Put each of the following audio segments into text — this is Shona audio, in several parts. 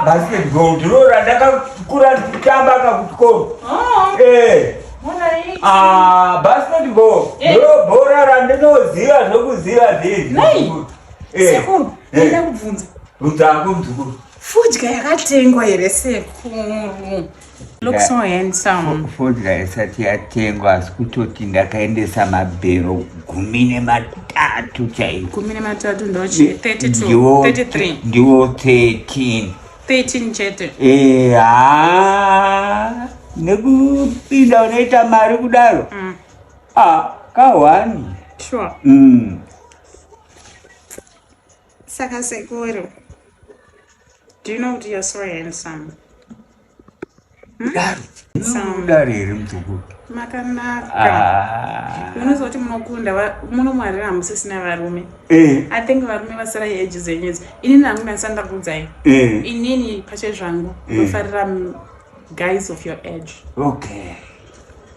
basketball ndiroora ndakakura ndichitamba kakuchikoro basketball ndiro bhora randinoziva zvokuziva zvizisekuru ndida kubvunza bvunza hangu mzukuru fudya yakatengwa here sekuru Looks so handsome. Fodya isati yatengwa asi kutoti ndakaendesa mabhero gumi nematatu chaiko. Gumi nematatu ndochi 32 33. Ndiwo 13. 13 chete. Eh, ah. Nekupinda unoita mari kudaro. Mm. Ah, kawani. Sure. Mm. Saka sekuru. Do you know what you're so handsome? dare here mutukuru makanaka ah. munozoti munokunda muno mwarira hamusisina varume eh. i think varume vasara yeji zenyedzi inini hamuna ndisandakudzai eh. inini pache zvangu eh. unofarira guys of your age okay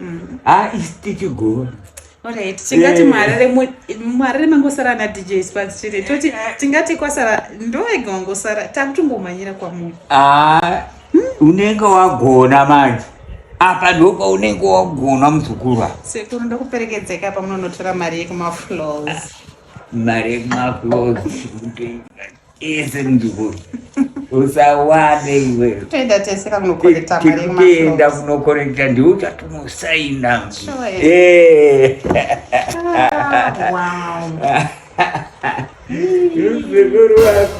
mm. ah, istichigona Alright, tingati eh. mwarere mwarere mangosara ana DJ Sparks chete. Toti tingati kwasara ndoega wangosara takutongomanyira kwamuri. Ah, hmm? unenge wagona manje. Apa ndopa unenge wagona muzukuru apa. Sekuru ndokuperekedzeka pamunonotora mari yekumaflows. Mari yekumaflows. ese mujukuru usawade iwe toenda tese kakunokorekta kuenda kunokorekta ndiwe uchatonosaina muzukuru wako